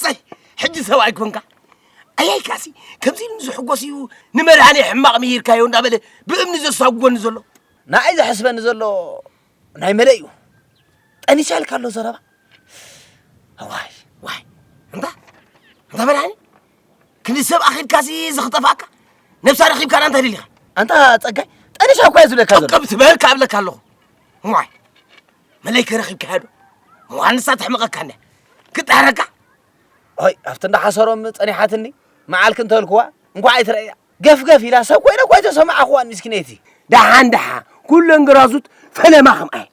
ሰይ ሕጂ ሰብኣይ ኮንካ ኣያይካሲ ከምዚ ኢሉ ዝሕጎስ እዩ ንመድሃኒ ሕማቕ ምሂርካዮ እንዳበለ ብእምኒ ዘሳጉጎኒ ዘሎ ንኣይ ዘሕስበኒ ዘሎ ናይ መለ እዩ ጠኒሳ ኢልካ ኣሎ ዘረባ ዋይ ዋይ እንታ እንታ መድሃኒ ክንዲ ሰብ ኣኺልካሲ ዝኽጠፋካ ነብሳ ረኺብካ ዳ እንታይ ደሊኻ ኣንታ ጸጋይ ጠኒሳ እኳ እዩ ዝብለካ ዘሎ ቀብ ትበል ካብለካ ኣለኹ ዋይ መለይ ከረኺብካዮ ዶ መዋንሳ ተሕምቐካኒ ክጥሕረካ ኣይ ኣብቲ እንዳሓሰሮም ጸኒሓትኒ መዓልክ እንተልክዋ እንኳዕ ኣይትረእያ ገፍገፍ ኢላ ሰብ ኮይነ እኳ ኣይተሰማዕኽዋን ምስኪነይቲ ደሓን ደሓ ኩለን ግራዙት ፈለማ ከምኣየ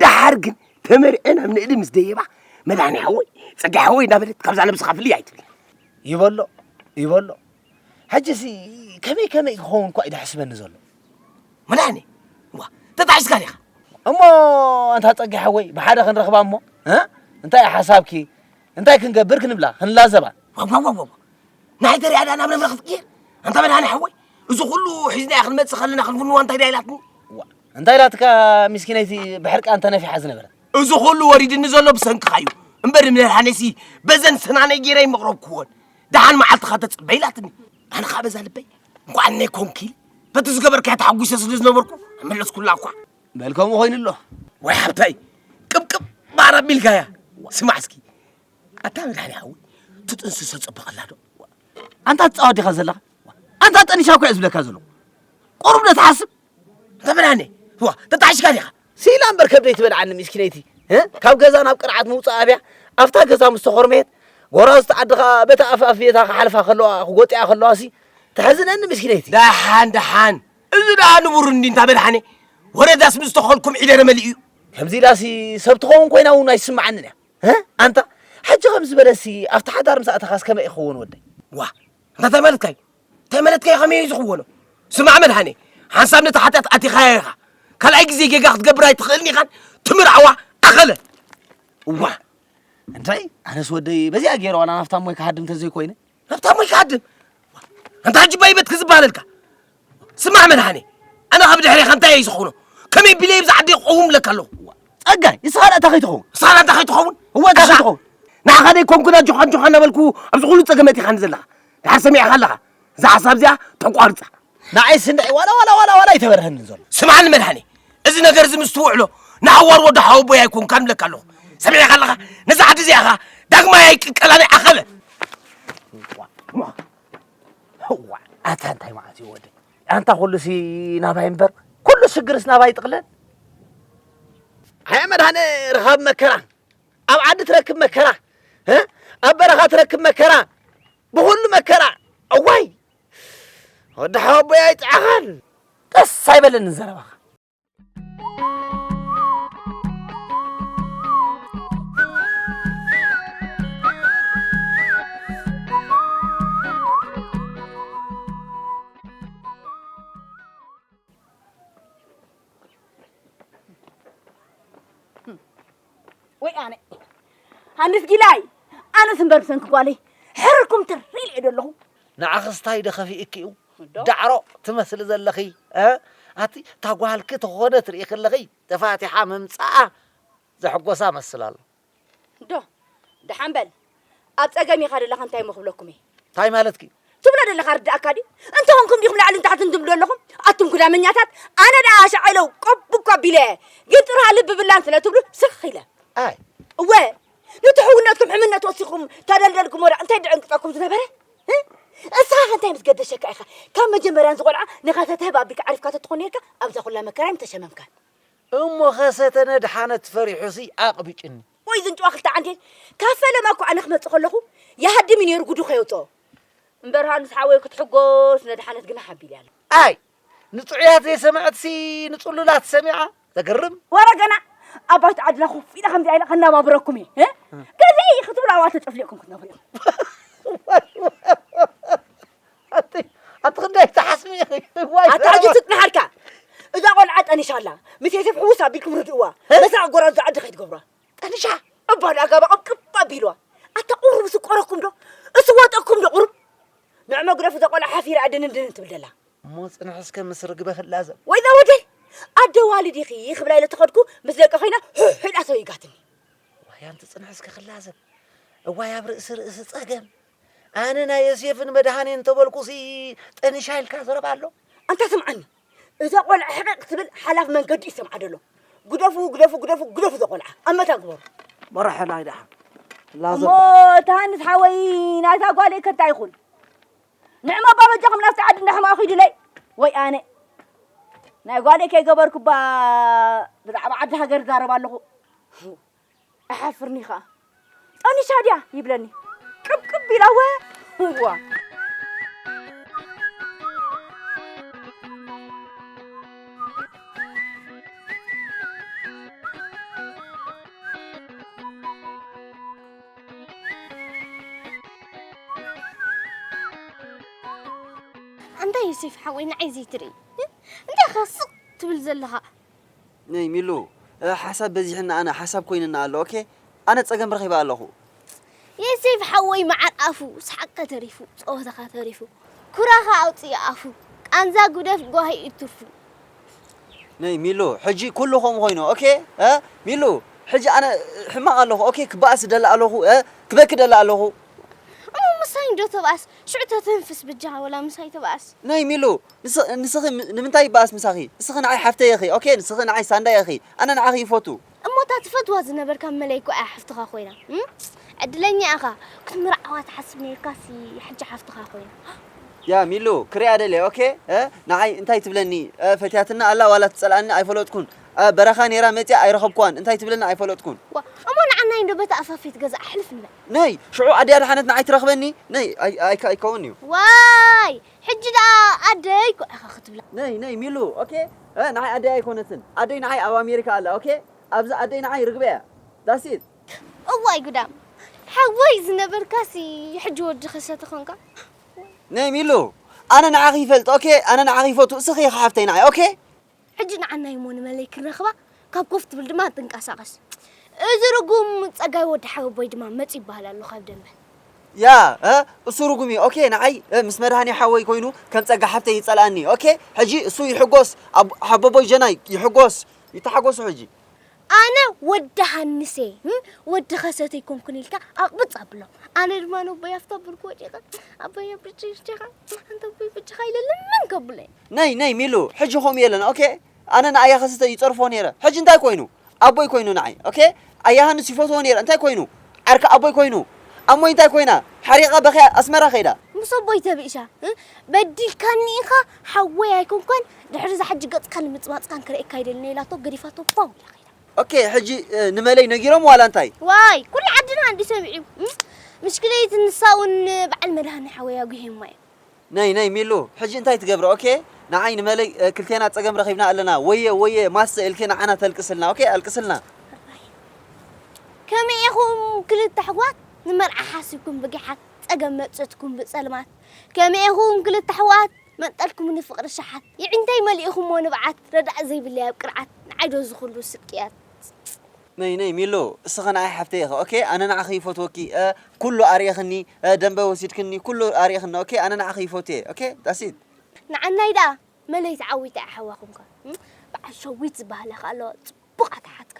ደሓር ግን ተመርዐን ኣብ ንእዲ ምስ ደየባ መድሃኒ ሓወይ ጸጋ ሓወይ እናበለት ካብዛ ነብስኻ ፍልይ ኣይትብል ይበሎ ይበሎ ሕጂሲ ከመይ ከመይ ክኸውን እኳ እዩ ደሕስበኒ ዘሎ መድሓኒ ዋ ተጣዒስካ ዲኻ እሞ ኣንታ ጸጋይ ሓወይ ብሓደ ክንረኽባ እሞ እንታይ እዩ ሓሳብኪ እንታይ ክንገብር ክንብላ ክንላዘባ ዋዋዋዋ ንሓይ ተሪኣ ዳኣ ናብ ነብረ ክትቅየር ኣንታ መድሃኒ ሓወይ እዚ ኩሉ ሒዝናያ ክንመጽእ ከለና ክንፍንዋ እንታይ ዳ ኢላትኒ እንታይ ኢላትካ ምስኪነይቲ ብሕርቃ እንተነፊሓ ዝነበረ እዚ ኩሉ ወሪድኒ ዘሎ ብሰንክኻ እዩ እምበር ንመድሃኒሲ በዘን ስናነይ ገይረ ይመቕረብክዎን ደሓን መዓልትኻ ተጽበ ኢላትኒ ኣነ ከዓ በዛ ልበይ እንኳን ነይ ኮንኪ በቲ ዝገበርካያ ተሓጒሰ ስለ ዝነበርኩ መለስኩላ እኳ በል ከምኡ ኮይኑ ኣሎ ወይ ሓብታይ ቅብቅብ ባር ኣቢልካያ ስማዕ እስኪ ኣታ መድሓኒ ሓዊ ትጥንስሶ ፅብቕላ ዶ ኣንታ ትፃወት ዲኻ ዘለኻ ኣንታ ጠኒሻ እኳ እዩ ዝብለካ ዘለኹ ቁሩብ ዶ ትሓስብ ተመናኒ ዋ ተጣዕሽካ ዲኻ ሲላ እምበር ከብደይ ትበልዓኒ ሚስኪነይቲ ካብ ገዛ ናብ ቅርዓት ምውፃእ ኣብያ ኣብታ ገዛ ምስ ተኾርመየት ጎራዝቲ ዓድኻ በታ ኣፍኣፍየታ ክሓልፋ ከለዋ ክጎጢኣ ከለዋ ሲ ተሕዝነኒ ሚስኪነይቲ ደሓን ደሓን እዚ ደኣ ንቡር እንዲ እንታ በልሓኒ ወረዳስ ምስ ተኸልኩም ዒደረ መሊኡ እዩ ከምዚ ኢላሲ ሰብ ትኸውን ኮይና እውን ኣይስምዓንን እያ ኣንታ ሕጂ ከም ዝበለሲ ኣብቲ ሓዳር ምስ ኣተኻስ ከመይ ይኸውን ወደይ ዋ እንታይ ማለትካ እዩ ተመለትከይ ከመይ እዩ ዝኽወኖ ስማዕ መድሃኔ ሓንሳብ ነቲ ሓጢኣት ኣቲኻያ ኢኻ ካልኣይ ግዜ ጌጋ ክትገብር ኣይትኽእልን ኢኻን ትምርዓዋ ኣኸለ እዋ እንታይ ኣነስ ወደይ በዚኣ ገይረ ዋላ ናብታ ሞይ ክሃድም ተዘይኮይነ ናብታ ሞይ ክሃድም ኣንታ ሕጂ ባይበት ክዝበሃለልካ ስማዕ መድሃኔ ኣነ ካብ ድሕሬኻ እንታይ እዩ ዝኽውኖ ከመይ ቢለይ ብዛ ዓደይ ክቐውም ለካ ኣለኹ ጸጋይ ንስኻ ንእታ ከይትኸውን ንስኻ ንእታ ከይትኸውን እወ እታ ከይትኸውን ንዓኻ ደይ ኮንኩን ኣጆኻ ኣጆኻ እናበልኩ ኣብዚ ኩሉ ጸገመት ኢኻኒ ዘለኻ ድሓር ሰሚዕኻ ኣለኻ እዛ ሓሳብ እዚኣ ተቋርፃ ንዓይ ስንዒ ዋላ ዋላ ዋላ ዋላ ይተበርሀኒ ዘሎ ስምዓኒ መድሓኒ እዚ ነገር እዚ ምስ ትውዕሎ ንሓዋር ወዲ ሓወቦይ ኣይኮንካን እብለካ ኣለኹ ሰሚዕኻ ኣለኻ ነዛ ዓዲ እዚኣ ኸዓ ዳግማይ ኣይቅቀላን እየ ዓኸበ ኣታ እንታይ ማለት እዩ ወደይ ኣንታ ኩሉሲ ናባይ እምበር ኩሉ ሽግርስ ናባይ ይጥቕለል ኣያ መድሃነ ርኻብ መከራ ኣብ ዓዲ ትረክብ መከራ እ ኣብ በረኻ ትረክብ መከራ ብኹሉ መከራ እዋይ ወዲ ሓወቦይ ኣይጥዓኻን ደስ ኣይበለንን ዘረባኻ ወይ ኣነ ኣንስ ጊላይ ኣነስ እምበር ብሰንኪ ጓለይ ሕርኩም ትር ኢለ ዶ ኣለኹ ንዓኽስ ታይ ዶ ከፊእኪ እዩ ዳዕሮ ትመስሊ ዘለኺ እ ኣቲ እታ ጓልኪ ተኾነት ርኢ ክለኺ ተፋቲሓ ምምፃኣ ዘሕጎሳ መስል ኣሎ ዶ ደሓን በል ኣብ ጸገም ኢኻ ደለኻ እንታይ እሞ ክብለኩም እየ። ታይ ማለትኪ? ትብሎ ደለኻ ርድኣካ ድዩ? እንተ ኹንኩም ዲኹም ላዕልን ታሕትን ትብሉ ደለኹም? ኣቱም ጉዳመኛታት ኣነ ደኣ ኣሻዐይለው ቆብ እኳ ኣቢለ እየ ግን ጥርሃ ልቢ ብላን ስለ ትብሉ ስኽ ኢለ። ኣይ እወ ኑቲ ሕውነትኩም ሕምነት ወሲኹም ተደልደልኩሞ ደኣ እንታይ ድዕንቅጸኩም ዝነበረ? እስኻ ከ እንታይ ምስ ገደሸካ ኢኻ ካብ መጀመርያ ነዚ ቆልዓ ንኸሰተ ህብ ኣቢልካ ዓሪፍካ ተትኾን ኔርካ ኣብዛ ኩላ መከራይ ምተሸመምካን። እሞ ኸሰተ ነድሓነት ፈሪሑሲ ኣቅብጭኒ። ወይ ዝንጭዋ ክልተ ዓንኬል ካብ ፈለማ እኮ ኣነ ክመጽእ ከለኹ ይሃድም እዩ ነይሩ ጉዱ ከየውጽኦ እምበር ሃንስ ሓወይ ክትሕጎስ ነድሓነት ግና ሓቢል እያ ኣይ ንጥዑያት ዘይሰምዐትሲ ንጽሉላት ሰሚዓ ዘገርም ወረ ገና ኣብ ባይታ ዓድና ኮፍ ኢለ ከምዚኣ ኢለ ከናባብረኩም እየ ገዘይ ክትብሉ ኣብኣ ተጨፍሊቕኩም ክትነብሩ ኣቲ ኣቲ ክንደይ ትሓስሚ ኢኺ ዋይ ኣታ ኣዚ ስጥ ንሓርካ እዛ ቆልዓ ጠኒሻ ኣላ ምስ ዮሴፍ ሕውስ ኣቢልኩም ርድእዋ መሳቕ ጎራዙ ዝዓዲ ከይትገብሯ ጠኒሻ እባ ንኣጋባ ቅብቅብ ኣቢልዋ ኣታ ቁሩብ ስቆረኩም ዶ እሱ ወጠኩም ዶ ቁሩብ ንዕ መጉረፍ እዛ ቆልዓ ሓፊራ ኣድንን ድንን ትብል ደላ እሞ ፅንሕ እስከ ምስ ርግበ ክላዘብ ወይ እዛ ወደይ ኣደ ዋልድ ኢኺ ክብላ ኢለ ተኸድኩ ምስ ደቂ ኮይና ሕሕዳ ሰው ይጋትኒ ዋይ ኣንቲ ፅንሕ እስከ ክላዘብ እዋይ ኣብ ርእሲ ርእሲ ፀገም ኣነ ናይ የሴፍን መድሃኔን እንተበልኩሲ ጠኒሻ ኢልካ ዘረባ ኣሎ ኣንታ ስምዓኒ እዛ ቆልዓ ሕቕቕ ትብል ሓላፍ መንገዲ እዩ ሰምዓ ደሎ ግደፉ ግደፉ ግደፉ ግደፉ ዘቆልዓ ኣብ መታ ግበሩ መራሒ ናይ ደሓ እሞ እታ ሃንስ ሓወይ ናይታ ጓለይ ከታ ይኹን ንዕማ ኣባ በጃኹም ናብቲ ዓዲ እንዳሕማ ኺዱለይ ወይ ኣነ ናይ ጓለይ ከይገበርኩባ ብዛዕባ ዓዲ ሃገር ዛረብ ኣለኹ እሓፍርኒ ከኣ ጠኒሻ ድያ ይብለኒ ቅብቅብ ኢላ ወ እዋ ኣንታይ ዮሴፍ ሓወይ ንዓይ ዘይትርኢ እንታይ ኢኻ ስቕ ትብል ዘለኻ ነይ ሚሉ ሓሳብ በዚሕና ኣነ ሓሳብ ኮይንና ኣሎ ኦኬ ኣነ ጸገም ረኺበ ኣለኹ። ዬሴፍ ሓወይ መዓር ኣፉ ሰሓቅካ ተሪፉ ጸወታኻ ተሪፉ ኩራኻ ኣውጽእ ኣፉ ቃንዛ ጉደፍ ጓሂ እዩ ትርፉ። ነይ ሚሉ ሕጂ ኩሉ ከምኡ ኮይኑ ኦኬ እ ሚሉ ሕጂ ኣነ ሕማቅ ኣለኹ ኦኬ ክበኣስ ደለ ኣለኹ እ ክበኪ ደለ ኣለኹ። እሞ ምሳይ እንዶ ተባኣስ ሽዑ ተተንፍስ ብጃኻ ወላ ምሳይ ተባኣስ። ነይ ሚሉ ንስኺ ንስኺ ንምንታይ ይበኣስ ምሳኺ ንስኺ ንዓይ ሓፍተይ ኢኺ ኦኬ ንስኺ ንዓይ ሳንዳይ ኢኺ ኣነ ንዓኺ ይፎቱ። እሞ እታ ትፈትዋ ዝነበርካ መለይ እኮ እያ ሓፍትኻ ኮይና እም ዕድለኛ ኢኻ ክትምርዓዋ ትሓስብ ኔርካሲ ሕጂ ሓፍትኻ ኮይና። ያ ሚሉ ክሪኣ ደልየ ኦኬ እ ንዓይ እንታይ ትብለኒ እ ፈትያትና ኣላ ዋላ ትጸልኣኒ ኣይፈለጥኩን ኣብ በረኻ ኔራ መጺኣ ኣይረኸብኩዋን እንታይ ትብለኒ ኣይፈለጥኩን። ዋ እሞ ንዓናይ እንዶ በታ ኣፋፈይት ገዛ ኣሕልፍ ንበል። ነይ ሽዑ ኣደይ ኣድሓነት ንዓይ ትረኽበኒ ነይ ኣይ ኣይ ኣይከውን እዩ። ዋይ ሕጂ ደኣ ኣደይ እኮ ኢኻ ክትብላ። ነይ ነይ ሚሉ ኦኬ እ ንዓይ ኣደይ ኣይኮነትን ኣደይ ንዓይ ኣብ ኣሜሪካ ኣላ ኦኬ ኣብዚ ኣደይ ንዓይ ርግበ እያ ዳስ ኢት። እዋይ ጉዳም ሓወይ ዝነበርካሲ ሕጂ ወዲ ከሰ ተኾንካ እዋይ። ነይ ሚሉ ኣነ ንዓኺ ይፈልጥ ኦኬ ኣነ ንዓኺ ይፈቱ እስኺ ኢኺ ሓፍተይ ንዓይ ኦኬ። ሕጂ ንዓናይ እሞ ንመለይ ክንረኽባ ካብ ኮፍ ትብል ድማ ትንቀሳቐስ እዚ ርጉም ጸጋይ ወዲ ሓወቦይ ድማ መጽ ይበሃል ኣሎ ካብ ደንበ ያ እሱ ርጉም እዩ ኦኬ ንዓይ ምስ መድሃኒ ሓወይ ኮይኑ ከም ጸጋ ሓፍተይ ይጸልኣኒ ኦኬ ሕጂ እሱ ይሕጎስ ሓቦቦይ ጀናይ ይሕጎስ ይተሓጎሱ ሕጂ ኣነ ወዲ ሃንስ'የ እም ወዲ ከሰት ኣይኮንኩን ኢልካ ኣቕብጽ ኣብሎ። ኣነ ድማ ነቦይ ኣብቲ ኣብ ብርኪ ወዲቐ ኣቦይ ኣብ ብጀኻ ኣንታ ኣቦይ ብጀኻ ኢለ ልምን ከብለይ። ነይ ነይ ሚሉ ሕጂ ከምኡ የለን ኦኬ ኣነ ንኣያ ከሰተ ይጸርፎ ነይረ ሕጂ እንታይ ኮይኑ ኣቦይ ኮይኑ ንዓይ ኦኬ ኣያ ሃንስ ይፈትዎ ነይረ እንታይ ኮይኑ ዓርኪ ኣቦይ ኮይኑ ኣሞይ እንታይ ኮይና ሓሪቓ በኺያ ኣስመራ ከይዳ ምስ ኣቦይ ተብእሻ በዲልካኒ ኢኻ ሓወይ ኣይኮንኳን ድሕሪ እዛ ሕጂ ገጽካን ምጽማጽካን ክርእየካ ኣይደልን ኢላቶ ገዲፋቶ ፓው ኢላ ከይዳ። ኦኬ ሕጂ ንመለይ ነጊሮም ዋላ እንታይ? ዋይ ኩሉ ዓድና እንድዩ ሰሚዑ ምሽክለይት ንሳ ውን በዓል መድሃኔ ሓወይ ኣጒሄማ እዩ። ነይ ነይ ሚሉ ሕጂ እንታይ ትገብሪ ኦኬ ንዓይ ንመለይ ክልቴና ጸገም ረኺብና ኣለና ወየ ወየ ማሰ ኢልኪ ንዓና ተልቅስልና ኦኬ ኣልቅስልና። ከመይ ኢኹም ክልተ ኣሕዋት ንመርዓ ሓሲብኩም ብጊሓት ጸገም መጺትኩም ብጸልማት። ከመይ ኢኹም ክልተ ኣሕዋት መንቀልኩምኒ ፍቕሪ ሸሓት የዒንተይ መሊእኹሞ ንብዓት ረዳኢ ዘይብለይ ኣብ ቅርዓት ንዓይ ዶ እዚ ኹሉ ስቅያት። ነይ ነይ ሚሉ እስኺ ንዓይ ሓፍተይ ኢኺ ኦኬ ኣነ ንዓኺ ይፎትወኪ ኩሉ ኣርኢኽኒ ደንበ ወሲድክኒ ኩሉ ኣርኢኽኒ ኦኬ ኣነ ንዓኺ ይፎትየ ኦኬ ዳትስ ኢት። ንዓናይ ደኣ መለይ ተዓዊታ እያ ሓዋ ኹንካ በዓል ሸዊት ዝበሃል ኣኸ ኣሎ ጽቡቕ ኣተሓትካ።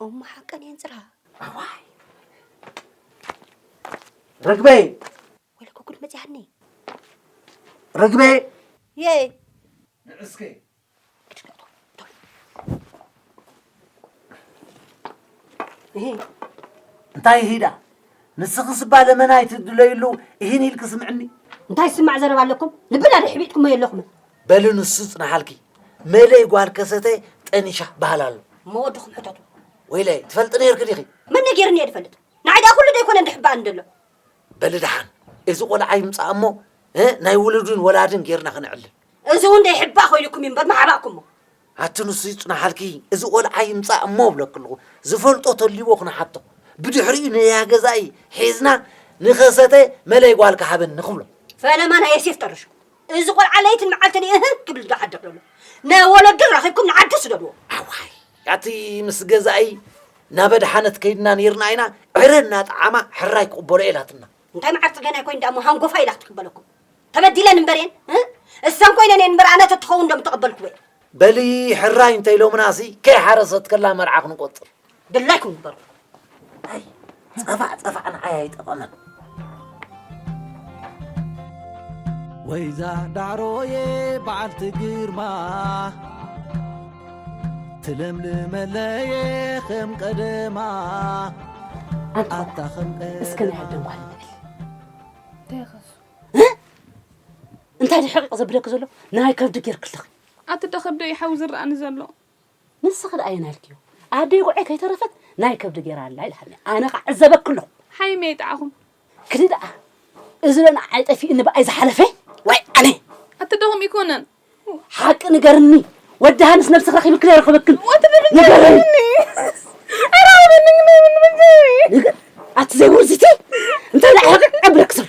እሞ ሓቀን እየን ፅራ ኣዋይ ርግበይ ወይለኮ ጉድ መፅያኒ ርግበይ የይ ንዕስከይ እንታይ ሂዳ ንስኺ ስባ ለመና ኣይትድለይሉ ይህን ኢልክ ስምዕኒ እንታይ ስማዕ ዘረባ ኣለኩም ልብና ድሕቢጥኩሞ የለኹምን በሊ ንሱ ጽንሓልኪ መለይ ጓል ከሰተ ጠኒሻ በሃል ኣሎ እሞ ወድኹም ሕተቱ ወይለይ ትፈልጢ ነይርኪ ዲኺ መን ነጊርኒ እየ ድፈልጥ ንዓይ ደኣ ኩሉ ደይኮነ እንድሕበኣኒ ደሎ በሊ ደሓን እዚ ቆልዓ ይምጻእ እሞ እ፣ ናይ ውሉድን ወላድን ጌርና ክነዕልል እዚ እውን ደይሕባእ ኮይኑኩም እዩ እምበር ምሓባእኩሞ ኣቲ ንሱ ይጽንሓልኪ እዚ ቆልዓ ይምጻእ እሞ እብለኪ ኣለኹ ዝፈልጦ ተልይዎ ክንሓቶ ብድሕሪኡ ነያ ገዛኢ ሒዝና ንኸሰተ መለይ ጓልካ ሃበኒ ክብሎ ፈለማ ናይ የሴፍ ጠርሹ እዚ ቆልዓ ለይትን መዓልትን እህ ክብል ዝሓድር ዘሎ ንወለዱ ረኺብኩም ንዓዱ ስደድዎ ኣዋይ ኣቲ ምስ ገዛኢ ናብ ኣድሓነት ከይድና ነይርና ኢና ዕረ እናጠዓማ ሕራይ ክቕበሎ ኢላትና እንታይ መዓር ፅገና ኮይን ዳሞ ሃንጎፋ ኢላ ክትቅበለኩም ተበዲለን እምበር እየን እሰን ኮይነን እየን እምበር ኣነ ተትኸውን ዶ ምተቐበልኩወ በሊ ሕራይ እንተኢሎምና ሲ ከይሓረሰት ከላ መርዓ ክንቆፅር ድላይኩም ግበሩ። ኣይ ጸፋዕ ጸፋዕ ንዓይ ኣይጠቐመን። ወይዛ ዳዕሮየ በዓልቲ ግርማ ትለምልመለየ ከም ቀደማ ኣታ ከም እስከ ናይ ቀደማ ኣደን ጓል ንበል እንታይ ኸሱ እንታይ ድሕቕቕ ዘብለኪ ዘሎ ናይ ከብዲ ጌርክልኺ ኣቲ ደኸብዶ ይሓዊ ዝረኣኒ ዘሎ ንስኺ ድኣ ኣየናይ ኢልክዮ ኣደይ ጉዐይ ከይተረፈት ናይ ከብዲ ገይራ ኣላ ኢልካኒ ኣነ ከዓ ዕዘበኪ ኣለኹ ሓይመይ ጣዕኹም ክዲ ድኣ እዚ ዶ ንዓይ ጠፊእኒ ብኣይ ዝሓለፈ ወይ ኣነ ኣትደኹም ይኮነን ሓቂ ንገርኒ ወዲ ሃንስ ነብስኽ ረኺብክ ዘይረኸበክን ንገርኒ ኣቲ ዘይውርዝቲ እንታይ ዳዕሕቅ ዕብረክ ዘሎ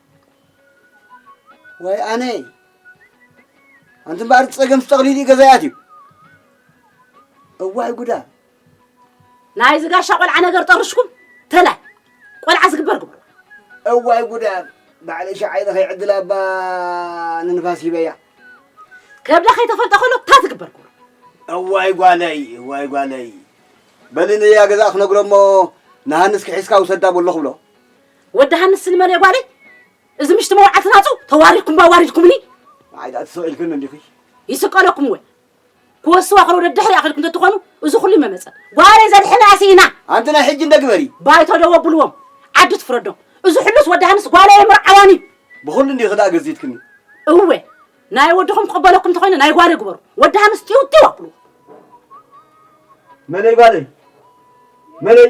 ወይ ኣነ ኣንቲ እምበኣር ፀገም ጠቕሊሉ እዩ ገዛ ይኣትዩ እዋይ ጉዳ ናይ ዝጋሻ ቆልዓ ነገር ጠርሽኩም ተላይ ቆልዓ ዝግበር ግብሩ እዋይ ጉዳ ባዕለ ሸዓይ ለኸይ ዕድል ኣባ ንንፋስ ሂበያ ከብዳ ከይተፈልጠ ከሎ እታ ዝግበር ግብሩ እዋይ ጓለይ እዋይ ጓለይ በሊ ንያ ገዛ ክነግሮ እሞ ንሃንስ ክሒዝካ ውሰዳ በሎ ክብሎ ወዲ ሃንስ ስኒ መን እየ ጓለይ እዚ ምሽቲ መውዓልቲ ናፁ ተዋሪድኩም ኣዋሪድኩምኒ ንዓይ ድኣ ትስዕልክን እንዲኺ ይስቀለኩም ወይ ክወስዋ ከሎ ደድሕሪ ኣኺልኩም ተትኾኑ እዚ ኩሉ ይመመፀ ጓለይ ዘድሕና ስኢና ኣንቲ ናይ ሕጂ እንደ ግበሪ ባይቶ ዶ ወብልዎም ዓዲ ትፍረዶም እዚ ሕሉስ ወዲ ሃንስ ጓለይ ምርዓዋን እዩ ብኹሉ እንዲኺ ድኣ ገዚትክኒ እወ ናይ ወድኹም ክቕበለኩም ተኾይነ ናይ ጓለይ ግበሩ ወዲ ሃንስ ጢው ጢው ኣብልዎ መለይ ጓለይ መለይ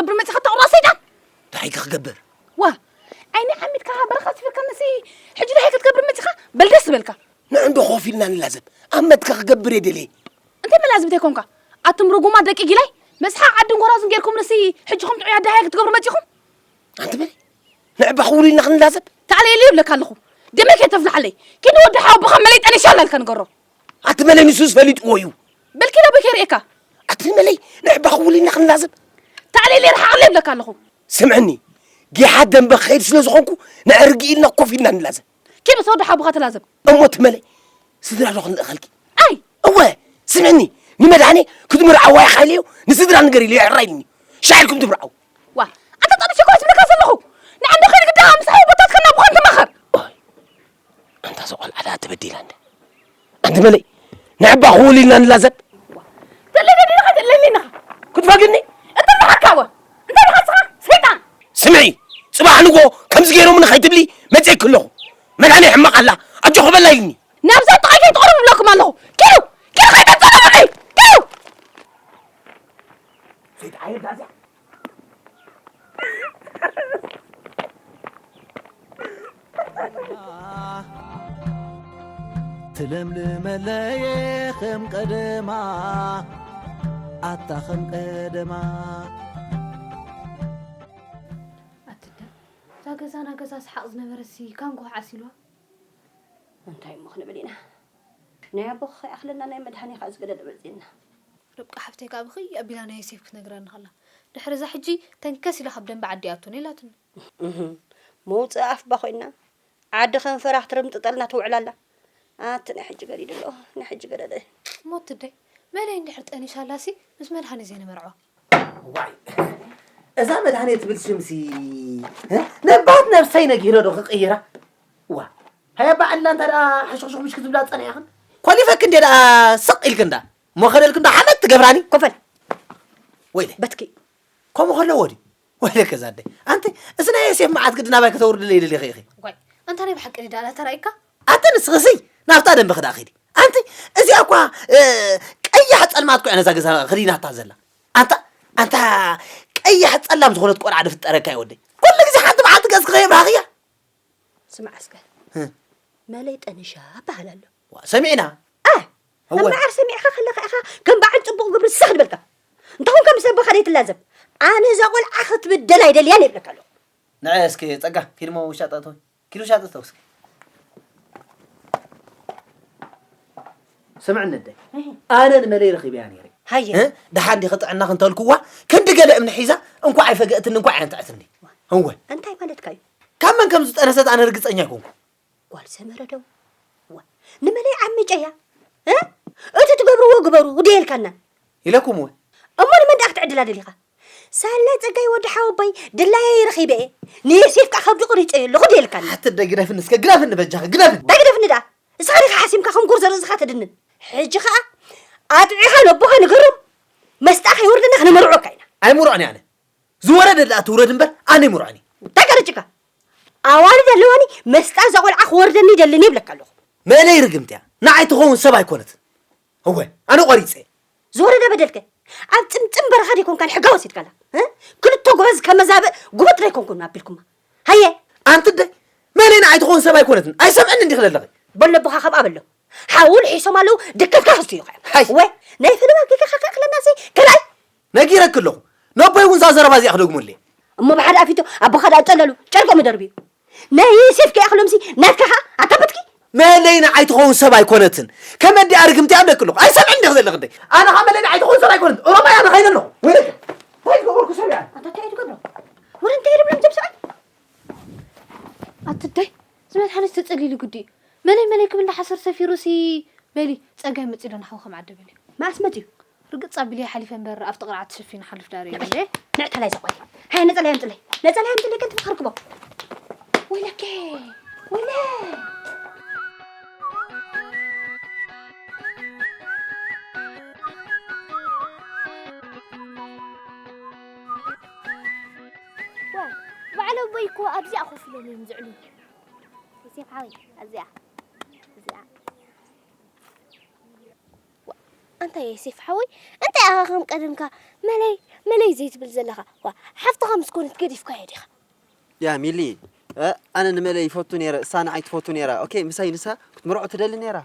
ክትገብር መፅኻ ተቕሮ ሰይጣን እንታይ ክገብር ዋ ዓይኒ ዓሚትካ በረኻ ስፍርካ መሲ ሕጂ እንታይ ክትገብር መፅኻ በል ደስ ዝበልካ ንዕንዶ ኮፍ ኢልና ንላዘብ ኣብ መትካ ክገብር እየ ደልየ እንታይ መላዝብ እንተይኮንካ ኣቱም ርጉማ ደቂ ጊላይ መስሓ ዓድን ጎራዙን ጌርኩም ንሲ ሕጂ ከም ጥዑይ ኣደሃየ ክትገብሩ መፂኹም ኣንቲ በል ንዕባ ክውሉ ኢልና ክንላዘብ ተኣለየለይ እብለካ ኣለኹ ደመይ ከይተፍልሓለይ ኪዲ ወዲ ሓው ብኸም መለይ ጠኒሻ ኣላልካ ንገሮ ኣቲ መለይ ንሱስ ፈሊጥዎ እዩ በል ኪድ ኣቦይ ከይርእየካ ኣቲ መለይ ንዕባ ክውሉ ኢልና ክንላዘብ ተኣለየለይ ረሓቐለይ እብለካ ኣለኹ ስምዕኒ ጌሓ ደንበ ክኸይድ ስለ ዝኾንኩ ንዕርጊ ኢልና ኮፍ ኢልና ንላዘብ ኪድ ምስ ወዲ ሓውካ ተላዘብ። እሞ ትመለይ ስድራ ዶ ክንልእኸልኪ? ኣይ! እወ ስምዕኒ ንመድሃኔ ክትምርዓዋ ኢኻ ኢለዮ ንስድራ ንገር ኢለዮ ሕራይ ኢሉኒ ሻዕ ኢልኩም ትምርዓዉ። ዋእ ኣንታ ጠቢሰ እኮ እየ ዝብለካ ዘለኹ ንዓይ እንዶ ከይዲ ግዳኻ ምስ ኣወቦታትካ እናቦኻ ተማኸር። ኣንታ እዛ ቆልዓ ድኣ ተበዲላ እንድያ። ኣንቲ በለይ ንዕባ ክውል ኢልና ንላዘብ ተለለሊኻ ተለሊኻ ክትፈግኒ እትመሓካወ እንታይ ኢኻ ንስኻ ሰይጣን ስምዒ ፅባሕ ንጎ ከምዚ ገይሮም ንኸይትብሊ መፅኤኪ ኣለኹ መድሃኒያ ሕማቕ ኣላ ኣጆኺ በላ ኢልኒ ናብዛ ጥቓይ ከይትቕርቡ ብለኩም ኣለኹ ኪዱ ኪዱ ከይተፀረቡኒ ኪዱ ሰይጣን ኣየርዳእዚኣ ትለምልመለየ ኸም ቀደማ ኣታ ኸም ቀደማ ኣትዳ እዛ ገዛና ገዛ ስሓቕ ዝነበረሲ ካብ ንጎሆ ዓሲልዋ እንታይ እሞ ክንብል ኢና ናይ ኣቦ ከይኣኽለና ናይ መድሃኒ ከ ዝገደደ መፂና ርብቃ ሓፍተይ ከኣ ብኽይ ኣቢላ ናይ ዮሴፍ ክትነግረኒ ከላ፣ ድሕሪ እዛ ሕጂ ተንከስ ኢላ ካብ ደንበ ዓዲ ኣቱኒ ኢላትኒ። እህ! መውጽኢ ኣፍ'ባ ኮይና ዓዲ ከንፈራ ክትርምጥጠልና ትውዕል ኣላ። ኣቲ ናይ ሕጂ ገዲድ ኣሎ ናይ ሕጂ ገደደ። ሞት እደይ! መን እይ እንድሕር ጠኒሳ ኣላሲ ምስ መድሃኔ ዘይንመርዖ። ዋይ እዛ መድሃኔ ትብል ሽምሲ ነባት ነብሰይ ነጊረ ዶ ክቅይራ ዋ ሃያ ባዕልና እንተ ሓሽኽሹኽ ምሽ ክትብላ ዝጸኒሕኽን ኮሊፈክን እንደ ስቕ ኢልክን ዳ እሞ ከደልክ እንዶ ሓመድ ትገብራኒ ኮፍ በል ወይለ በትኪ ከምኡ ከለዎ ድዩ ወይለ ከዛ ኣደይ ኣንቲ እዚ ናይ የሴፍ መዓት ግዲ ናባይ ከተውርድለይ ደሊኺ ኢኺ ዋይ ኣንታ ናይ ብሓቂ ድዳ ኣላ ተራይካ ኣተ ንስኽሲ ናብታ ደንበ ክዳ ኺዲ ኣንቲ እዚኣ እኳ ቀያሕ ጸልማት ኩዕ ነዛ ገዛ ክዲናታ ዘላ ኣንታ ኣንታ ቀያሕ ጸላም ዝኾነት ቆልዓ ድፍጠረካ እዩ ወደይ ኩሉ ግዜ ሓንቲ መዓልቲ ገጽ ክኸየብራኽያ ስምዕ ኣስከ መለይ ጠንሻ በሃል ኣሎ ሰሚዕና እወ እምበኣር ሰሚዕካ ከለኻ ኢኻ ከም በዓል ጽቡቕ ግብሪ ስኽ ዝበልካ። እንተኾንካ ምስ ኣቦኻ ዘይትላዘብ። ኣነ እዛ ቆልዓ ክትብደል ኣይደልያን እየ እብለካ ኣለኹ። ንዐ እስኪ ጸጋ ኪድ እሞ ውሻጠ እተው ኪድ ውሻጠ እተው እስኪ ስምዕኒ ኣደይ ኣነ ንመለይ ረኺበያ ነይረ ሃየ ደሓን ዲኺ ጥዕናኺ እንተልክዋ ክንዲ ገለ እምኒ ሒዛ እንኳዕ ኣይፈገእትኒ እንኳዕ ኣየንትዐትኒ እወ እንታይ ማለትካ እዩ ካብ መን ከም ዝጠነሰት ኣነ ርግፀኛ ኣይኮንኩ ጓል ሰመረ ደው ዋ ንመለይ ዓምጨያ እቲ ትገብርዎ ግበሩ ውድየልካና ኢለኩም እውን እሞ ንመን ደኣ ክትዕድላ ደሊኻ ሳላ ጸጋይ ወዲ ሓወቦይ ድላየ ይረኺበ እየ ንየሴፍ ከዓ ከብዲ ቁሪፀዮ ኣለኹ ድየልካና ኣትደ ግደፍኒ እስከ ግደፍኒ በጃኺ ግደፍኒ እንታይ ግደፍኒ ደኣ እስኻ ዲኻ ሓሲምካ ከም ጉር ዘርእዝኻ ተድንን ሕጂ ከዓ ኣጥዒኻ ነቦኻ ንገሮም መስጣ ከይወርደና ክነመርዖካ ኢና ኣይሙርዖን እየ ኣነ ዝወረደ ድኣ ትውረድ እምበር ኣነ ኣይምርዖን እየ። እንታይ ከርጭካ ኣዋልድ ኣለዋኒ መስጣ እዛ ቆልዓ ክወርደኒ ይደልን እየ ይብለካ ኣለኹ። መእለይ ርግምቲ እያ ንዓይ ትኸውን ሰብ ኣይኮነትን እወ ኣነ ቆሪፀ እየ። ዝወረደ በደል ከ ኣብ ጥምጥም በረኻ ደይኮንካ ንሕጋ ወሲድካላ እ? ክልተ ጎበዝ ከመዛብእ ጉብጥ ደይኮንኩም ኣቢልኩማ ሃየ ኣንቲ ደይ መእለይ ንዓይ ትኸውን ሰብ ኣይኮነትን ኣይሰምዕን እንዲኺ ዘለኺ በለቦኻ ከምኣ በሎ ሓው ልሒሶም ኣለዉ ድከትካ ክስትዩ ከ ሃይ ወይ ናይ ፈለማ ጌጋኻ ከእኽለናሲ ከላይ ነጊረኪ ኣለኹ ነቦይ እውን እዛ ዘረባ እዚኣ ክደግመሉ እየ። እሞ ብሓደ ኣፊቶ ኣቦኻ ድኣ ጸለሉ ጨርቆም ይደርብዩ ናይ ዮሴፍ ከይኣኽሎምሲ ናትካ ከኣ ኣካበትኪ። መለይ ንዓይ ትኸውን ሰብ ኣይኮነትን ከም ኣዲኣ ርግምቲ ኣብ ደቂ ኣለኹ ኣይሰምዕን ዲኺ ዘለኺ ደይ ኣነ ከኣ መለይ ንዓይ ትኸውን ሰብ ኣይኮነትን ኦሮማይ ኣነ ከይደ ኣለኹ ወይ ደቂ እንታይ ዝገበርኩ ሰብ እያ ኣንታ እንታይ ትገብሮ ወረ እንታይ ይብሎም እዞም ሰብኣይ ኣትደይ ዝመት ሓደ ዝተጸሊሉ ግዲ እዩ መለይ መለይ ክብል ሓሰር ሰፊሩሲ በሊ ጸጋይ መጺኡ ዶ ንሓውካ መዓደበልዩ መዓስ መጺኡ ርግጽ ኣቢለየ ሓሊፈ እምበር ኣብቲ ቅርዓት ተሸፊኑ ሓልፍ ዳር እዩ እንዴ ንዕታላይ ዘቆይ ሃይ ነጸላይ ኣምጽለይ ነጸላይ ኣምጽለይ ከንቲ መኸርክቦ ወይለከ ወይለ ባዕለ ቦይ እኮ ኣብዚኣ ኮፍ ኢሎም እዮም ዝዕሉ እዚ ዓወይ ኣብዚኣ እዚኣ ዋእ ኣንታ የሴፍ ሓወይ እንታይ ኣኻ ከም ቀደምካ መለይ መለይ ዘይትብል ዘለኻ ዋእ ሓፍትኻ ምስ ኮነት ገዲፍካዮ ዲኻ ያ ሚሊ ኣነ ንመለይ ይፈቱ ነይረ እሳ ንዓይ ትፈቱ ነይራ ኦኬ ምሳይ ንሳ ክትምርዖ ትደሊ ነይራ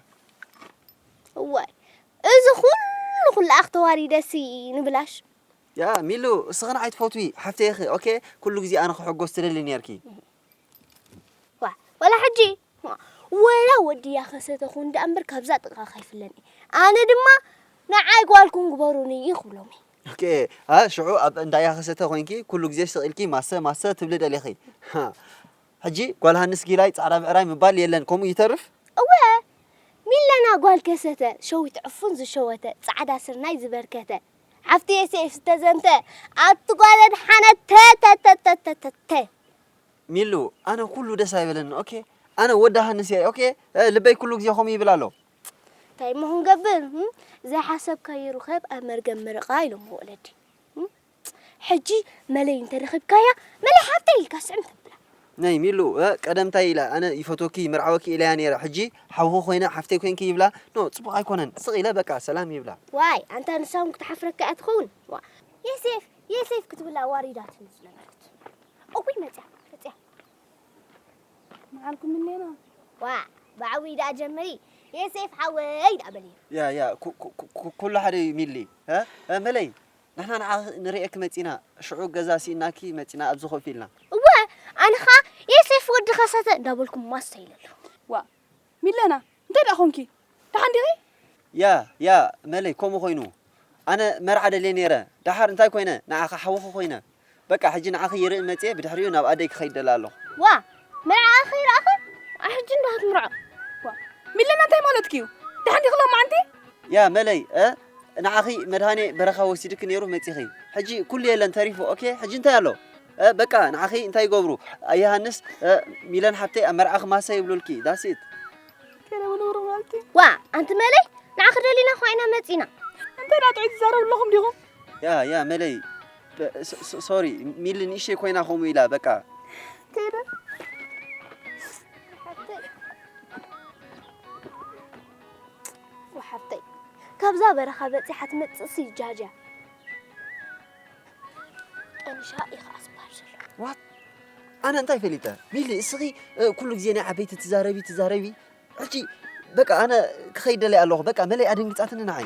ዋይ እዚ ኩሉ ኩላኣኽ ተዋሪደሲ ንብላሽ ያ ሚሉ እስኺ ንዓይ ትፈትዊ ሓፍተይ ኢኺ ኦኬ ኩሉ ግዜ ኣነ ክሕጎስ ትደሊ ነይርኪ ወላ ሕጂ ወላ ወዲ ያኸሰተ ኹን ደኣ እምበር ካብዛ ጥቕኻ ከይፍለኒ ኣነ ድማ ንዓይ ጓልኩም ግበሩኒ እዩ ክብሎም ኦኬ ኣ ሽዑ ኣብ እንዳ ያኸሰተ ኮይንኪ ኩሉ ግዜ ስቕ ኢልኪ ማሰ ማሰ ትብሊ ደሊኺ ሕጂ ጓል ሃንስ ጊላይ ጻዕዳ ብዕራይ ምባል የለን ከምኡ ይተርፍ እወ ሚለና ጓል ከሰተ ሸዊት ዕፉን ዝሸወተ ጻዕዳ ስርናይ ዝበርከተ ኣብቲ ኤስኤፍ ዝተዘንተ ኣብቲ ጓል ኣድሓነት ተተተተተተተ። ሚሉ ኣነ ኩሉ ደስ ኣይበለኒ ኦኬ ኣነ ወዲ ሃንስ እየ ኦኬ ልበይ ኩሉ ግዜ ከምኡ ይብል ኣሎ እንታይ እሞ ክንገብር እም? ዘይሓሰብካዮ ርኸብ ኣብ መርገም ምርቓ ኢሎሞ ወለዲ እም? ሕጂ መለይ እንተረኺብካያ መለይ ሓብተይ ኢልካ ስዕም ተብላ ናይ ሚሉ ቀደም ታይ ኢላ ኣነ ይፈትወኪ ይምርዓወኪ ኢለያ ነይረ ሕጂ ሓውኺ ኮይነ ሓፍተይ ኮንኪ ይብላ ን ፅቡቅ ኣይኮነን ስቅ ኢለ በቃ ሰላም ይብላ። ዋይ ኣንታ ንሳ ውን ክትሓፍረካ እያ ትኸውን ዋእ የሴፍ የሴፍ ክትብል ኣዋሪዳትኒ ዝነበረት እውይ መፅያ መፅያ መዓልኩም እኔና ዋእ ብዓብይ ደኣ ጀምሪ የሴፍ ሓወይ ደኣ በልዮ። ያ ያ ኩሉ ሓደ እዩ ሚሊ መለይ ንሕና ንዓኺ ንርእየኪ መጺእና፣ ሽዑ ገዛ ስኢንናኪ መጺእና ኣብዚ ኮፍ ኢልና። እወ፣ ኣነ ኸኣ የሴፍ ወዲ ከሰተ እንዳበልኩ ማስተ ኢለ ኣለኹ። ዋእ! ሚለና እንታይ ደኣ ኰንኪ? ደሓን ዲኺ? ያ! ያ! መለይ ከምኡ ኰይኑ። ኣነ መርዓ ደልየ ነይረ፣ ደሓር እንታይ ኰይነ? ንዓኺ ሓውኺ ኰይነ። በቃ ሕጂ ንዓኺ ይርኢ መጺኤ ብድሕሪኡ ናብ ኣደይ ክኸይድ ደለ ኣለኹ። ዋእ መርዓኣ ከይረኣኻ ኣሕጂ እንዳ ክትምርዖ። ሚለና እንታይ ማለትኪ እዩ ደሓን ዲኺ ሎማዓንቲ? ያ መለይ እ ንዓኺ መድሃኔ በረኻ ወሲድኪ ኔሩ መጺኺ ሕጂ ኩሉ የለን ተሪፉ ኦኬ ሕጂ እንታይ ኣሎ እ በቃ ንዓኺ እንታይ ይገብሩ ኣየሃንስ እ ሚለን ሓብተይ ኣብ መርዓኺ ማሰ ይብሉልኪ ዳስ ኢት ዋእ ኣንቲ መለይ ንዓኺ ደሊና እኳ ኢና መጺና። እንታይ ዳኣ ጥዑይ ትዛረቡ ኣለኹም ዲኹም? ያ ያ መለይ ሶሪ ሚሊ ንእሽተይ ኮይና ከምኡ ኢላ በቃ ቴደ ሓፍተይ ካብዛ በረኻ በፂሓ ትመፅእ ስጃጃ ጠንሻ ኢኻ ኣስባር ዘሎ ዋት ኣነ እንታይ ፈሊጠ ሚሊ እስኺ ኩሉ ግዜ ናይ ዓበይቲ ትዛረቢ ትዛረቢ ሕጂ በቃ ኣነ ክኸይድ ደለይ ኣለኹ በቃ መለይ ኣደንግፃትኒ ንዓይ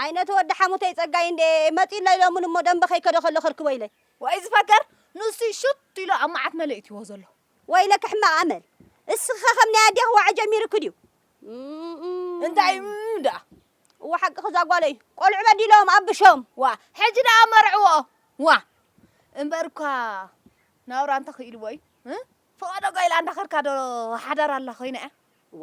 ኣይ ነቲ ወዲ ሓሙተይ ጸጋይ እንድየ መጺኡ ኣሎ ኢሎሙኒ እሞ ደምበ ከይከዶ ከሎ ከርክቦ ኢለ። ወይ ዝፈከር ንሱ እዩ ሹት ኢሉ ኣብ መዓት መለ እትዎ ዘሎ። ወይለኪ ሕማቅ ኣመል እስኪ ከ ከም ናይ ኣዴኪ ዋዒ ጀሚሩኪ ድዩ እም እንታይ እዩ እም ደኣ። እወ ሓቅኺ እዛ ጓለይ ቆልዑ በዲሎም ኣብሾም። ዋእ ሕጂ ደኣ መርዕዎ ዋእ እምበር እኳ ናብራ እንተ ክኢልዎ እዩ እ ፍቀዶ ጓይላ እንዳከርካ ዶ ሓዳር ኣላ ኮይና እያ። እዋ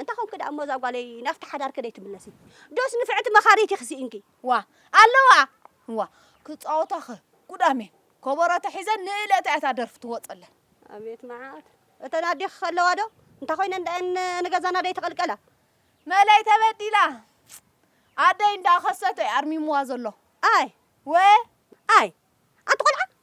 እንታይ ኮንኪ ደኣ እሞ እዛ ጓለይ ናብቲ ሓዳርኪ ደይትምለሲ ዶስ ንፍዕቲ መኻሪት ኢኺ ስኢንኪ ዋ ኣለዋ ዋ ክጻወታኸ ጉዳሜ ኮቦሮ ተሒዘን ንእለታ እያ እታ ደርፊ ትወጸለን ኣቤት መዓት እተን ኣዴኺ ከለዋ ዶ እንታይ ኮይነን ደኣን ንገዛና ደይተቐልቀላ መለይ ተበዲላ ኣደይ እንዳ ከሰተ ኣርሚምዋ ዘሎ ኣይ ወ ኣይ ኣንቲ ቆልዓ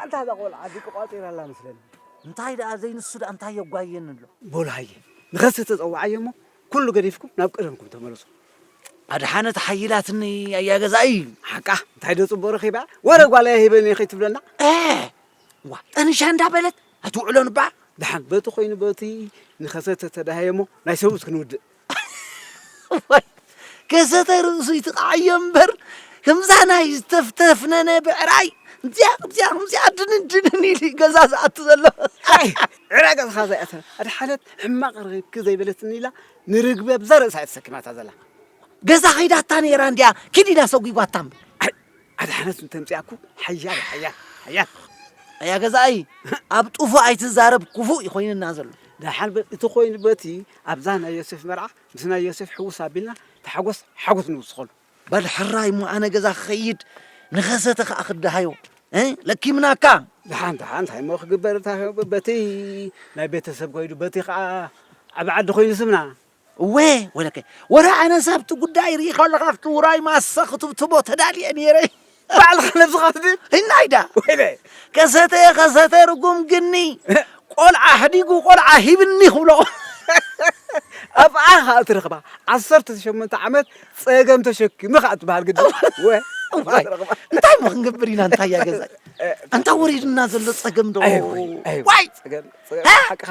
ኣንታ እዛ ቆልዓ ድቂ ቋጺራ ኣላ መስለኒ። እንታይ ደኣ ዘይንሱ ደኣ እንታይ የጓየኒ ኣሎ። በሉ ሃየ ንኸስተ ተጸውዓዮ እሞ ኩሉ ገዲፍኩም ናብ ቀደምኩም ተመለሱ። ኣድሓነት ሓይላትኒ ኣያ ገዛኢ ሓቃ እንታይ ዶ ጽቡቕ ረኺባ ወረ ጓለያ ሂበኒ ከይትብለና ዋ ጠንሻ እንዳበለት ኣትውዕሎን እባ ደሓን በቲ ኮይኑ በቲ ንኸሰተ ተዳሃየ እሞ ናይ ሰብኡት ክንውድእ ከሰተ ርእሱ ይትቃዓዮ እምበር ከምዛ ናይ ዝተፍተፍነነ ብዕራይ እዚያ እዚያ ከምዚኣ ድንን ድንን ኢሉ ገዛ ዝኣቱ ዘሎ ዕረ ገዝኻ ዘይኣተ ኣድሓነት ሕማቕ ርክብኪ ዘይበለትኒ ኢላ ንርግቢ ኣብዛ ርእሳ እያ ተሰኪማታ ዘላ ገዛ ከይዳታ ነይራ እንዲያ ኪድ ኢላ ሰጒጓታ እምበር ኣድሓነት እንተምፅኣኩ ሓያል ሓያል ሓያል ኣያ ገዛኣይ ኣብ ጡፉ ኣይትዛረብ ክፉእ ይኮይንና ዘሎ ደሓን በል እቲ ኮይኑ በቲ ኣብዛ ናይ ዮሴፍ መርዓ ምስ ናይ ዮሴፍ ሕውስ ኣቢልና ተሓጎስ ሓጎስ ንውስኸሉ በል ሕራይ እሞ ኣነ ገዛ ክኸይድ ንኸሰተ ከዓ ክደሃዮ ለኪምናካ ደሓን ደሓን እንታይ እሞ ክግበር በቲ ናይ ቤተሰብ ኮይዱ በቲ ከዓ ዓብ ዓዲ ኮይኑ ስምና እወ ወለከ ወረ ኣነስ ኣብቲ ጉዳይ ርኢ ከለካ ኣብቲ ውራይ ማሰ ክትብትቦ ተዳልየ ነይረ ባዕልካ ነብስካ ትብል ህናይ ዳ ወይለ ከሰተ ከሰተ ርጉም ግኒ ቆልዓ ሕዲጉ ቆልዓ ሂብኒ ክብሎ ኣብኣ ከኣ ትረክባ ዓሰርተ ሸሞንተ ዓመት ጸገም ተሸኪሙ ከኣ ትበሃል ግዲ ወ እንታይ ሞ ክንገብር ኢና እንታይ እያ ገዛ ኣንታ ወሪድና ዘሎ ጸገም ዶ ዋይ ሓቅኻ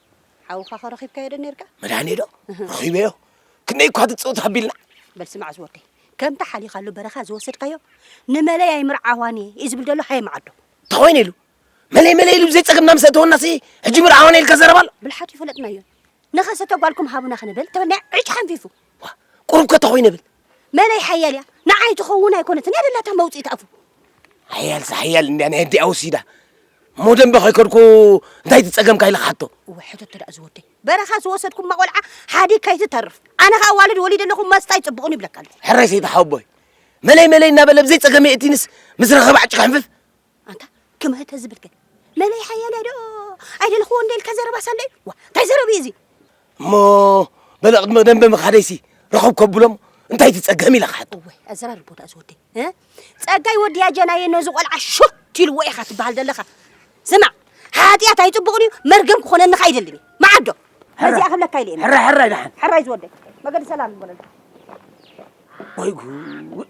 ሓውካ ከ ረኺብካዮ ዶ ኔርካ? መድሃኔ ዶ? ረኺበዮ። ክንደይ እኳ ትጽውት ኣቢልና። በል ስማዕ ዝወደይ፣ ከምታ ሓሊኻሉ በረኻ ዝወሰድካዮ ንመለይ ኣይምርዓዋን እየ እዩ ዝብል ዘሎ ሃየ መዓዶ። እንታይ ኮይነ ኢሉ? መለይ መለይ ኢሉ ብዘይ ጸገምና ምስ ኣእተወናሲ ሕጂ ምርዓዋን እየ ኢልካ ዘረባ ኣሎ? ብልሓቱ ይፈለጥናዮ። ንኸሰተ ጓልኩም ሃቡና ክንብል ተበልና ዕጭ ሓንፊፉ። ቁሩብ ከ እንታይ ኮይነ ብል? መለይ ሓያል እያ ንዓይ ትኸውን ኣይኮነትን እያ ደላታ መውፅኢት ኣፉ ሓያልሲ ሓያል እንድያ ናይ ኣዲኣ ወሲዳ እሞ ደንበ ከይከድኩ እንታይ ትፀገምካ ኢለ ክሓቶ እወ ሕተቶ ደኣ ዝወደይ በረኻ ዝወሰድኩማ ቆልዓ ሓዲግ ከይትተርፍ ኣነ ከዓ ዋልድ ወሊደ ኣለኹ መስጣ ይፅብቕን ይብለካ ኣሎ ሕራይ ሰይቲ ሓወቦይ መለይ መለይ እናበለ ብዘይ ፀገመ የእቲንስ ምስ ረኸበ ዓጭ ክሕንፍፍ ኣንታ ከማይ ተዝብል ከ መለይ ሓያልያ ዶ ኣይደለኽዎ እንደ ኢልካ ዘረባ ሳለዩ ዋ እንታይ ዘረብ እዩ እዚ እሞ በለ ቅድሚ ደንበ ምኻደይሲ ረኸብ ከብሎም እንታይ ትጸገም ኢለ ክሓቶ ወይ ኣዘራርቦ ዳኣ ዝወደይ ጸጋይ ወድያ ጀናየ ነዚ ቆልዓ ሹክ ኢልዎ ኢኻ ትበሃል ዘለኻ ስማዕ ሓጢኣት ኣይጽቡቕን እዩ መርገም ክኾነንኻ ኣይደልን እዩ መዓዶ ነዚኣ ክብለካ ኢለ ሕራ ሕራይ ደሓን ሕራይ ዝወደይ መገዲ ሰላም ይበለልካ ወይ ጉድ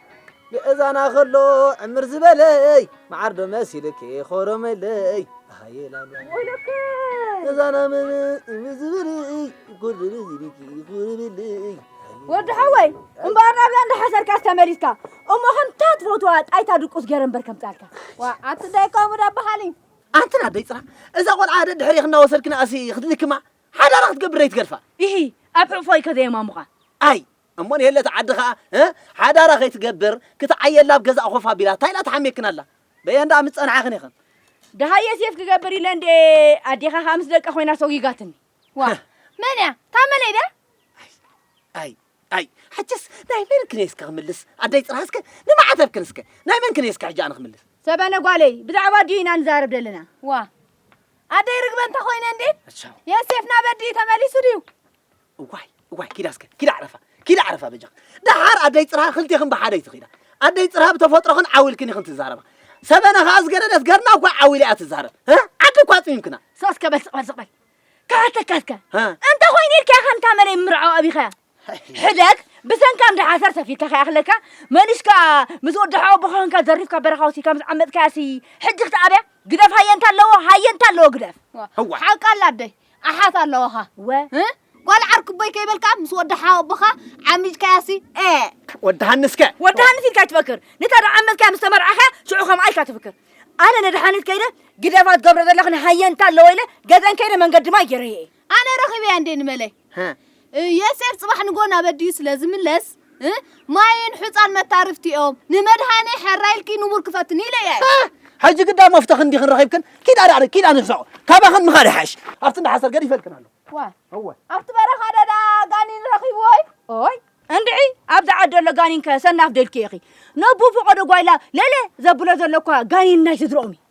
ምእዛና ከሎ ዕምር ዝበለይ መዓር ዶ መሲልኪ ኾሮመለይ ኣሃየ ላላ እዛና ምን እምር ዝበለይ ኩር ዶ መሲልኪ ኹርብለይ ወዲ ሓወይ እምበኣር ናብያ እንዳሓሰርካስ ተመሊስካ እሞ ከምታ ትፈትዋ ጣይታ ድቁስ ገረ እምበር ከምፃልካ ዋ ኣቲ ዳይ ከምኡ ዳበሃሊ ኣንትና ደይ ፅራ እዛ ቆልዓ ደ ድሕሪ ክናወሰድክና ኣሲ ክትልክማ ሓዳራ ክትገብር ደይትገድፋ ይሂ ኣብ ሕቑፎይ ከዘየማሙኻ ኣይ እሞ ንሄለት ዓዲ ከኣ እ ሓዳራ ከይትገብር ክትዓየላ ኣብ ገዛኣ ኮፍ ኣቢላ ታይ ኢላ ትሓምየክን ኣላ በየን ደኣ ምስ ጸንሓክን ኢክን ደሃየ ሴፍ ክገብር ኢለ እንዴ ኣዴኻ ከኣ ምስ ደቃ ኮይና ሶጊጋትኒ ዋ መን እያ እታ መለይ ድያ ኣይ ኣይ ሕጅስ ናይ መን ክንየ እስከ ክምልስ ኣደይ ጽርሃ እስከ ንማዕተብክን እስከ ናይ መን ክንየ እስከ ሕጂ ኣነ ክምልስ ሰበነ ጓለይ ብዛዕባ ድዩ ኢና ንዛረብ ዘለና ዋ ኣደይ ርግበ እንተ ኮይነ እንዴ የሴፍና በዲ ተመሊሱ ድዩ እዋይ እዋይ ኪዳ እስከ ኪዳ ዕረፋ ኪዳ ዕረፋ በጃኽ ደሓር ኣደይ ፅርሃ ክልቴኽን ብሓደ ይትኺዳ ኣደይ ፅርሃ ብተፈጥሮኽን ዓው ኢልክን ኢኽን ትዛረባ ሰበና ከዓ ዝገደደት ገርና እኳ ዓው ኢላ እያ ትዛረብ ዓዲ እኳ ፅሚምክና ስቕ እስከ በል ስቕ በል ስቕ በል ክሓተካ እስከ እንተ ኮይኑ ኢልካ ኢኻ ንታ መለይ ምርዖ ኣብይኻያ ሕደግ ብሰንካ እንዳ ሓሰር ሰፊርካ ከይኣኽለካ መሊስካ ምስ ወዲ ሓው ኣቦኻ ኮንካ ዘሪፍካ በረኻ ወሲድካ ምስ ዓመፅካያሲ ሕጂ ክትኣብያ ግደፍ ሃየ እንታ ኣለዎ ሃየ እንታ ኣለዎ ግደፍ ሓቃ ኣላ ኣደይ ኣሓት ኣለዋኻ ወ ጓል ዓርኩቦይ ከይበልካ ምስ ወዲ ሓወቦኻ ዓሚጅካያሲ ኤ ወዲ ሃንስከ ወዲ ሃንስ ኢልካ ይትፈክር ነታ ደዓመትካ ምስ ተመርዓኻ ሽዑ ከምኣ ኢልካ ትፍክር ኣነ ነድሓኒት ከይደ ግደፋ ትገብረ ዘለኽን ሃየንታ ኣለወ ኢለ ገዘን ከይደ መንገዲ ማይ ገይረየ ኣነ ረኺበያ እንዴ ንመለይ የሴፍ ጽባሕ ንግሆ ናብ ኣዲኡ ስለ ዝምለስ ማይን ሑጻን መታርፍቲኦም ንመድሃኔ ሐራ ኢልኪ ንቡር ክፈትኒ ኢለ እየ ሕጂ ግዳ መፍተኽን ዲኽን ረኺብክን ኪድ ኣዳዕሪ ኪድ ኣንሕሰቑ ካባኽን ምኻድ ይሓይሽ ኣብቲ እንዳ ሓሰር ገዲፈልክን ኣሎ ዋ ኣብቲ በረኻ ደዳ ጋኒን ረኺብዎይ ኦይ እንድዒ ኣብዚ ዓዲ ኣሎ ጋኒንከ ሰናፍ ደልኪ ኢኺ ነቡ ፈቐዶ ጓይላ ለለ ዘብሎ ዘሎ እኳ ጋኒን ናይ ስድርኦም እዩ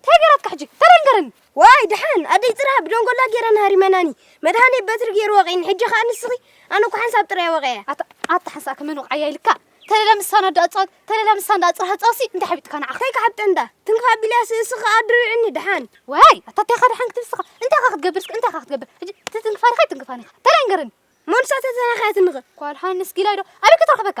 እንታይ ገራትካ ሕጂ ተረንገረኒ ዋይ ድሓን ኣደይ ጽራ ብደንጎላ ገይረን ሃሪመናኒ መድሃኔ በትሪ ገይሩ ወቂኒ ሕጂ ከኣ ንስኺ ኣነ እኮ ሓንሳብ ጥራይ ወቂዐ ኣታ ሓንሳብ ከመን ወቃያ ኢልካ ተለላ ምሳን ኣደ ኣጻወት ተለላ ምሳን ዳ ጽራ ጻውሲ እንታይ ሓቢጥካ ንዓኻ እንታይ ክሓብጥ እንዳ ትንክፋ ቢልያስ እስኺ ከኣ ድርዕኒ ድሓን ዋይ ኣታ እንታይ ኻ ድሓን ክትብስኻ እንታይ ኻ ክትገብር እስኪ እንታይ ኻ ክትገብር ሕጂ ትትንክፋኒ ኸይ ትንክፋኒ ኻ ተረንገረኒ መንሳተተናኸያትንኸ ኳልሃንስ ጊላይዶ ኣበይ ክትረኽበካ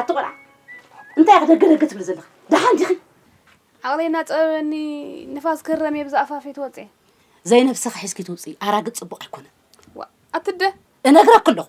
ኣቲ ቆልዓ እንታይ ኢኺ ደገደገ ትብሊ ዘለኺ ደሓን ዲኺ ዓቕለይና ፀበበኒ ንፋስ ክረም እየ ብዛኣፋፊ ትወፅእ ዘይነብስኺ ሒዝኪ ትውፅኢ ኣራግፅ ፅቡቕ ኣይኮነን ኣትደ እነግረኪ ኣለኹ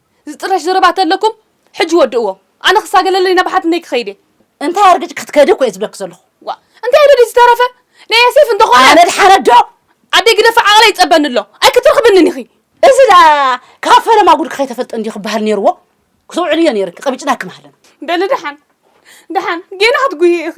ዝጥረሽ ዘረባ ተለኩም ሕጂ ወድእዎ ኣነ ክሳገለለይ ናብ ሓትነይ ክከይድ እየ። እንታይ ኣርግጭ ክትከዲ እኮ እየ ዝብለኪ ዘለኩ። ዋእ እንታይ ኣሎ ድዩ ዝተረፈ ናይ የሴፍ እንተኮነ። ኣነ ድሓነ ዶ። ኣደይ ግደፊ ዓቅላ ይጸበኒ ኣሎ ኣይክትረክብንን ኢኪ። እዚ ደኣ ካብ ፈለማ ጉድኪ ከይተፈልጠ እንድዩ ክበሃል ኔርዎ ክትውዕልዮ ኔርኪ ቀቢጭናኪ ምሃለና። በሊ ደሓን ደሓን ጌና ክትጉህዪ ኢኪ።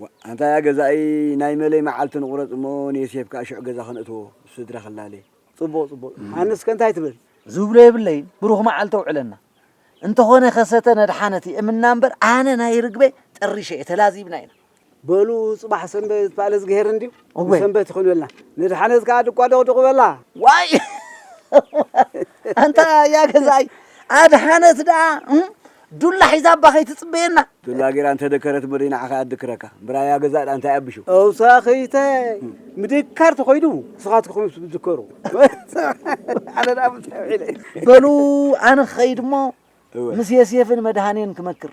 ዋእ ኣንታ ያ ገዛኢ ናይ መለይ መዓልቲ ንቁረጽ እሞ ንየሴፍ ከኣ ሽዑ ገዛ ከነእትዎ ምስ ስድራ ክላለ። ጽቡቅ ጽቡቅ ኣነስ ከ እንታይ ትብል። ዝብሎ የብለይን ብሩኽ መዓልቲ ኣውዕለና። እንተኾነ ከ ሰተን ኣድሓነት ይእምና እምበር ኣነ ናይ ርግበይ ጠሪሸ እየ ተላዚብና ኢና። በሉ ጽባሕ ሰንበት በኣል እዝግሄር እንድዩ እወ ንሰንበት ይኹን በልና ንድሓነት ከኣ ድቋ ዶቅዱቅ በላ። ዋይ ኣንታ ያ ገዛይ ኣድሓነት ደኣ እም፣ ዱላ ሒዛ እባ ከይትጽበየና። ዱላ ጌራ እንተ ደከረት እሞ ደይ ንዓኻ ኣድክረካ። እምበራ ያ ገዛእ ደኣ እንታይ ኣቢሹ? ተውሳኺተ ምድካር ተኾይኑ ንስኻትኩም ምስ ትዝከሩ ኣነ ደኣ ምሳይ ውዒለ። በሉ ኣነ ክኸይድ እሞ እወ። ምስ የሴፍን መድሃኔን ክመክር።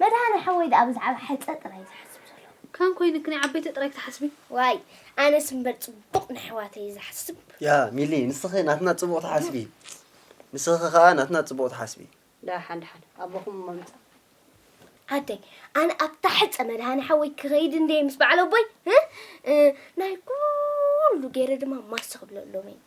መድሃኔ ሓወይ ደኣ ብዛዕባ ሕጸ ጥራይ እዩ ዝሓስብ ዘሎ። ከም ኮይንኪ ናይ ዓበይቲ ጥራይ ክትሓስቢ። ዋይ ኣነስ እምበር ጽቡቅ ነሕዋተይ እየ ዝሓስብ። ያህ ሚሊ ንስኺ ናትና ጽቡቅ ትሓስቢ ንስኺ ከኣ ናትና ጽቡቅ ትሓስቢ። ደኣ ሓደሓደ ኣቦኹም እሞ ምጻ። ኣደይ ኣነ ኣብታ ሕጸ መድሃኔ ሓወይ ክኸይድ እንድየ ምስ በዓል ኣቦይ ናይ ኩሉ ጌረ ድማ ማስ ክብለሎም እየ።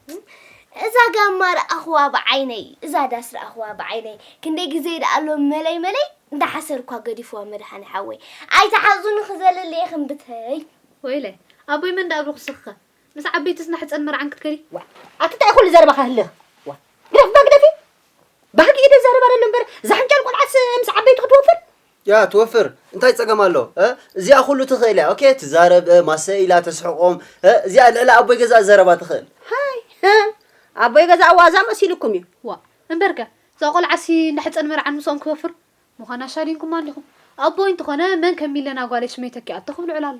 እዛ ጋማ ረኣኽዋ ብዓይነይ እዛ ዳስ ረኣኽዋ ብዓይነይ ክንደይ ግዜ ደኣ ሎም መለይ መለይ እንዳሓሰርኳ ገዲፍዋ መድሓኒ ሓወይ ኣይትሓዙኒ ክዘልል እየ ክንብተይ ወይለይ ኣቦይ መን ደኣ ኣብልኩ ስኽከ ምስ ዓበይትስ ናሕፀን መርዓን ክትከዲ ዋእ ኣቲ እንታይ ኩሉ ዘረባኻ ህልኽ ዋእ ግደፍ እባ ግደፊ ባህጊ ኢደ ዛረብ ኣደሎ እምበር ዛሕንጫል ቆልዓስ ምስ ዓበይቱ ክትወፍር ያ ትወፍር እንታይ ጸገም ኣሎ እ እዚኣ ኩሉ ትኽእል እያ ኦኬ ትዛረብ እ ማሰ ኢላ ተስሕቆም እ እዚኣ ልዕሊ ኣቦይ ገዛ ዘረባ ትኽእል ሃይ ህ ኣቦይ ገዛ ዋዛ መሲልኩም እዩ ዋ እምበርከ እዛ ቆልዓሲ እንዳ ሕጸን መርዓን ምስኦም ክትወፍር ምዃና ሻዲንኩማ ኣሊኹም ኣቦይ እንተኾነ መን ከም ሚለና ጓለይ ሽመይ ተኪኣቶ ክብሉ ዕላሎ